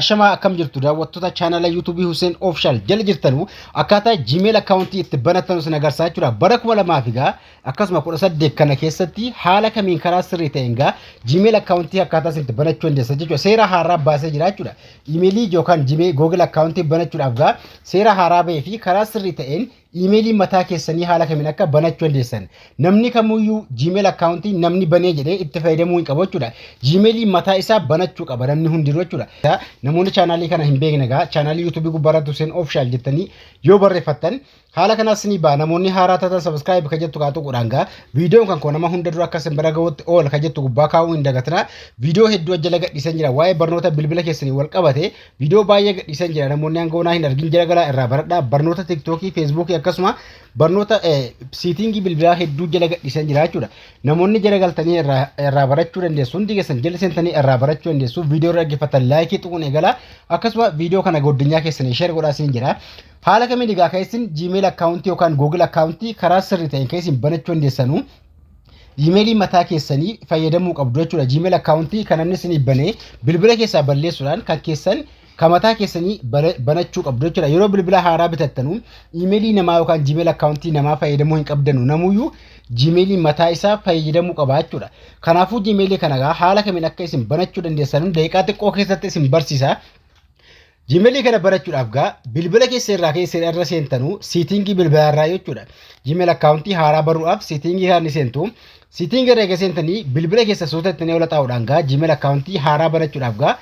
Ashamaa akkam jirtu daawwattoota chaanala yuutuubii Hussein Official jala jirtanu akkaataa Gmail akkaawuntii itti banatanu sin agarsiisaa jechuudha. Bara kuma lamaa fi gaa akkasuma kudha saddeet kana keessatti haala kamiin karaa sirrii ta'een gaa Gmail akkaawuntii akkaataa isin itti banachuu dandeessan jechuudha. Seera haaraa baasee jira jechuudha. Imeelii yookaan Gmail Google akkaawuntii banachuudhaaf gaa seera haaraa bahee fi karaa sirrii ta'een Iimeelii mataa keessanii haala kamiin akka banachuu dandeessan. Namni kamuyyuu Gmail account namni banee jedhee itti fayyadamuu hin qabu jechuudha. Gmail mataa isaa banachuu qaba namni hundinuu jechuudha. Namoonni chaanaalii kana hin beekne egaa chaanaalii YouTube gubbaarratti Hussein Official jettanii yoo barreeffattan haala kanas isinii ba'a. Namoonni haaraa taatan subscribe kan jettu kaatu godhaan gaa. Viidiyoon kan koo nama hunda dura akka isin bira ga'utti ool kan jettu gubbaa kaa'uu hin dagatinaa. Viidiyoo hedduu ajjala gadhiisan jira waa'ee barnoota bilbila keessanii wal qabate Viidiyoo baay'ee gadhiisan jira namoonni hanga onaa hin argin jira galaa irraa baradhaa barnoota tiktookii feesbuukii akkasuma barnoota siitingii bilbilaa hedduu jala gadhiisan jira jechuudha. Namoonni jala galtanii irraa irraa barachuu dandeessu hundi keessan jala seentanii irraa barachuu dandeessu viidiyoo irra dhaggeeffatan laayikii tuquun eegalaa akkasuma viidiyoo kana goddinyaa keessanii sheer godhaa siin jira. Haala kamiin egaa keessin Gmail akkaawuntii yookaan Google akkaawuntii karaa sirrii ta'een keessin banachuu dandeessanu Gmailii mataa keessanii fayyadamuu qabdu jechuudha. Gmail akkaawuntii kan namni isinii banee bilbila keessaa balleessuudhaan kan keessan kan mataa keessanii banachuu qabdu jechuudha. Yeroo bilbila haaraa bitattanu imeelii namaa yookaan gmail akkaawuntii namaa fayyadamuu hin qabdanu. Namuyyuu gmailii mataa isaa fayyadamuu qaba jechuudha. Kanaafuu gmailii kana haala kamiin akka isin banachuu dandeessan daqiiqaa xiqqoo keessatti isin barsiisa. Gmail kana barachuudhaaf gaa bilbila keessa irraa keessa irra seentanuu siitingii bilbilaa irraa jechuudha. Gmail akkaawuntii haaraa baruudhaaf siitingii kana ni seentu. Siitingii irra egaa seentanii bilbila keessa suuta itti yoo laxaa'uudhaan gaa Gmail akkaawuntii haaraa barachuudhaaf gaa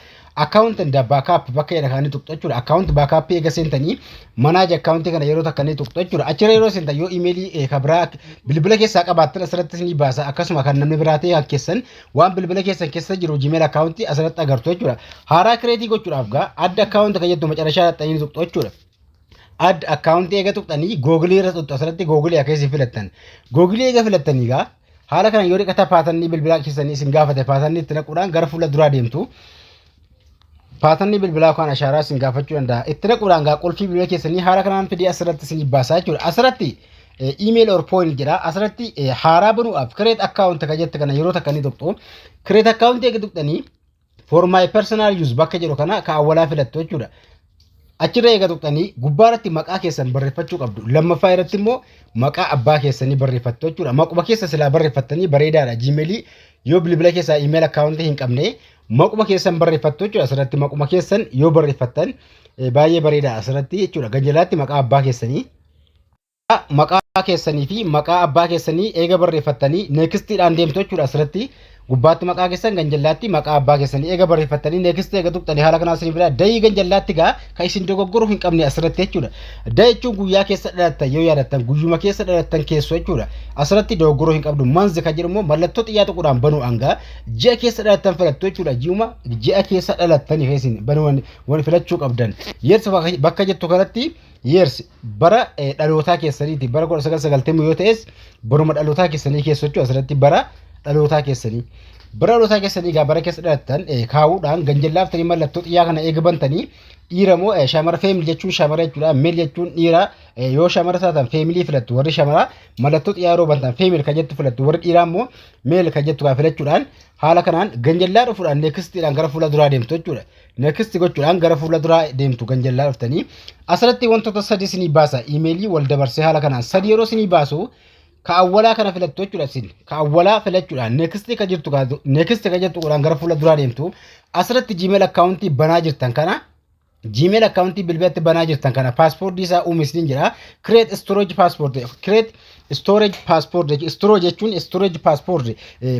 akkaawunti and baakaap bakka jedha kana ni tuqxu jechuudha. Akkaawunti baakaappii egaa seentanii manaaj akkaawuntii kana yeroo takka ni tuqxu jechuudha. Achirra yeroo seentan yoo imeelii kan biraa bilbila keessaa qabaattan asirrattis ni baasa akkasuma kan namni biraa ta'e kan keessan waan bilbila keessan keessa jiru Gmail account asirratti agartu jechuudha. Haaraa kireetii gochuudhaaf gaa adda account kan jettu macarashaa dhaxxanii tuqxu jechuudha. Adda account eega tuqxanii googilii irra tuqxu asirratti googilii akkeessi filattan. Googilii eega filattanii gaa haala kana yoo dhiqata paatannii bilbilaa keessanii isin gaafate paatannii itti naquudhaan gara fuula duraa deemtu. Paatanni bilbilaa kan ashaaraa isin gaafachuu danda'a. Itti naquudhaan gaa qulfii bilbila keessanii haala kanaan fidee asirratti isin baasaa jechuudha. Asirratti email or point jedha. Asirratti haaraa banuudhaaf create account kan jette kana yeroo takka ni tuqxu. Create account eega tuqxanii for my personal use bakka jedhu kana kan awwalaa filattu jechuudha. Achirra eega tuqxanii gubbaa irratti maqaa keessan barreeffachuu qabdu. Lammaffaa irratti immoo maqaa abbaa keessanii barreeffattu jechuudha. Maquma keessa silaa barreeffattanii bareedaadha. Jiimeelii yoo bilbila keessaa iimeel akkaawuntii hin qabne maquma keessan barreeffattu jechuudha. Asirratti maquma keessan yoo barreeffattan baay'ee bareedaadha asirratti jechuudha. Ganjalaatti maqaa abbaa keessanii. Egaa maqaa keessanii fi maqaa abbaa keessanii eega barreeffattanii next dhaan deemtu jechuudha asirratti gubbaatti maqaa keessan ganjallaatti maqaa abbaa keessanii eega barreeffattanii next eega tuqxanii haala kanaan isin fida dayii ganjallaatti gaa kan isin dogoggoruu hin qabne asirratti jechuudha da jechuun guyyaa keessa dhalattan yoo yaadattan guyyuma keessa dhalattan keessoo jechuudha asirratti dogoggoruu hin qabdu manzi kan jedhu immoo mallattoo xiyyaa tuquudhaan banuu hangaa ji'a keessa dhalattan filattu jechuudha ji'uma ji'a keessa dhalattanii keessin banuu waan filachuu qabdan yeersi bakka jettu kanatti yeersi bara eh, dhalootaa keessaniiti bara 1990 yoo ta'es baruma dhalootaa keessanii keessa jechuudha asirratti bara dhalootaa keessanii bara dhalootaa keessanii egaa bara keessa dhalattan eh, kaa'uudhaan ganjallaaftanii mallattoo xiyyaa kana eega bantanii dhiira moo eh, shamara feemil jechuun shamara jechuudha meel jechuun dhiira eh, yoo shamara taatan feemilii filattu warri shamara mallattoo xiyyaa yeroo bantan feemil kan jettu filattu warri dhiiraa immoo meel kan jettu kan filachuudhaan haala kanaan ganjallaa dhufuudhaan neekistiidhaan gara fuula duraa deemtu jechuudha next gochuudhaan gara fuula duraa deemtu kan jallaa dhuftanii asirratti wantoota sadii isinii baasa imeelii wal dabarsee haala kanaan sadii yeroo isinii baasu ka awwalaa kana filattu jechuudha isin ka awwalaa filachuudhaan next ka jirtu ka next ka jirtu godhaan gara fuula duraa deemtu asirratti gmail akkaawuntii banaa jirtan kana gmail akkaawuntii bilbilatti banaa jirtan kana paaspoortii isaa uume isiniin jedha create storage passport create storage passport jechuun stro jechuun storage passport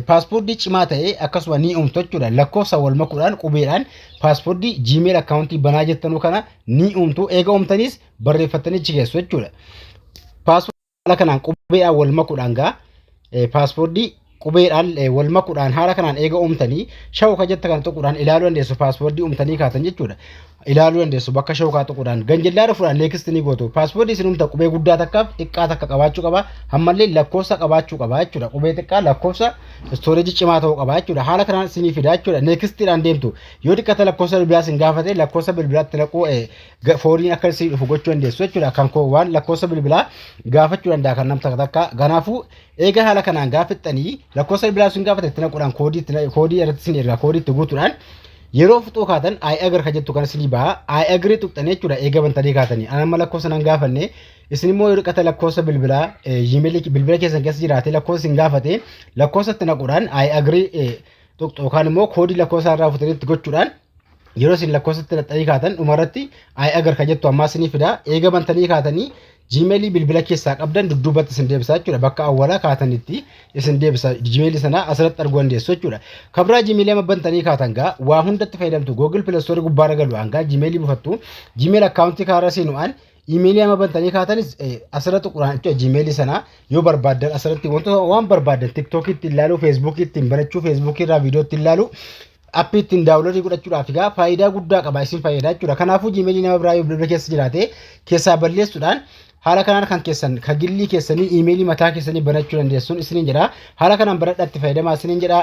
paaspoortii cimaa ta'ee akkasuma ni uumtu jechuudha lakkoofsa wal makuudhaan qubeedhaan paaspoortii gmail akkaawuntii banaa jettanuu kana ni uumtu eega uumtaniis barreeffattanii achi keessu jechuudha paaspoortii haala kanaan qubeedhaan wal makuudhaan gaa paaspoortii qubeedhaan wal makuudhaan haala kanaan eega uumtanii shawuka jetta kana tuquudhaan ilaaluu dandeessu paaswoordii uumtanii kaatan jechuudha. Ilaaluu dandeessu bakka shawukaa tuquudhaan ganjillaa dhufuudhaan neekistii ni gootu paaswoordii isin uumta qubee guddaa takkaaf xiqqaa takka qabaachuu qaba ammallee lakkoofsa qabaachuu qaba jechuudha qubee xiqqaa lakkoofsa istooreejii cimaa ta'uu qaba jechuudha haala kanaan isinii fidaa jechuudha neekistiidhaan deemtu yoo xiqqata lakkoofsa bilbilaa isin gaafate lakkoofsa bilbilaatti naquu fooniin akka isin dhufu gochuu dandeessu jechuudha kan koo waan lakkoofsa bilbilaa gaafachuu danda'a kan nam takka takka kanaafuu Eega haala kanaan gaaffattanii lakkoofsa bilbilaa sun gaafatan itti naquudhaan koodii itti na- koodii irratti isin ergaa koodii itti guutuudhaan yeroo fixuu kaatan I agree kan jettu kan isinii baha I agree tuqxanii jechuudha eega bantanii kaatanii an amma lakkoofsa nan gaafanne isin immoo yeroo qata lakkoofsa bilbilaa eh, Gmail bilbila keessan keessa jiraate lakkoofsa isin gaafate lakkoofsa itti naquudhaan I agree eh, tuqxu yookaan immoo koodii lakkoofsa irraa futanii itti gochuudhaan yeroo isin lakkoofsatti laxxanii kaatan dhumarratti I agree kan jettu ammaa isinii fida eega bantanii kaatanii Gmail bilbila keessaa qabdan dudduubatti isin deebisa jechuudha. Bakka awwalaa kaatanitti isin deebisa. Gmail sana asirratti arguu dandeessu jechuudha. Kabraa Gmail amma bantanii kaatan gaa waa hundatti fayyadamtu. Google Play Store gubbaarra galu hangaa Gmail buufattu. Gmail akkaawuntii kaarra seenu'aan Gmail amma bantanii kaatanis asirra tuquraan jechuudha. Gmail sana yoo barbaaddan asirratti wantoota waan barbaaddan TikTok ittiin ilaaluu, Facebook ittiin barachuu, Facebook irraa viidiyoo ittiin ilaaluu appii ittiin daawunloodii godhachuudhaaf egaa faayidaa guddaa qaba isin fayyada jechuudha. Kanaafuu jiimeelii nama biraa yoo bilbila keessa jiraate keessaa balleessuudhaan haala kanaan kan keessan kan gillii keessanii iimeelii mataa keessanii banachuu dandeessuun isiniin jedha. Haala kanaan baradhaa itti fayyadamaa isiniin jedha.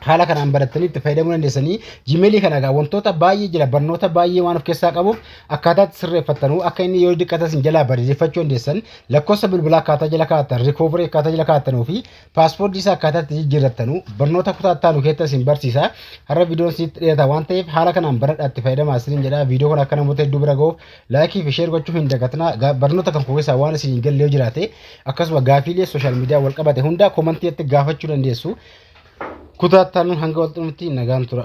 haala kanaan barattanii itti fayyadamuu dandeessanii jiimeelii kana egaa wantoota baay'ee jira barnoota baay'ee waan of keessaa qabuuf akkaataa itti sirreeffattanuu akka inni yoo diqqatas hin jalaa bareeffachuu dandeessan lakkoofsa bilbilaa akkaataa jala kaa'attan rikoovarii akkaataa jala kaa'attanuu fi Paaspoortii isaa akkaataa itti jijjiirrattanu barnoota kutaa itti aanu keessatti isin barsiisa. Har'a viidiyoon isinitti dhiyaata waan ta'eef haala kanaan baradhaa itti fayyadamaa isiniin jedha. Viidiyoo kana akka namoota hedduu bira ga'uuf laayikii fi sheer gochuu hin dagatinaa. Ga- Barnoota kan koo keessaa waan isin hin galle yoo jiraate akkasuma gaafiilee sooshaal miidiyaa wal qabate hunda komantiitti gaafachuu dandeessu. Kutaa itti aanuun hanga wal xumurrutti nagaan tura.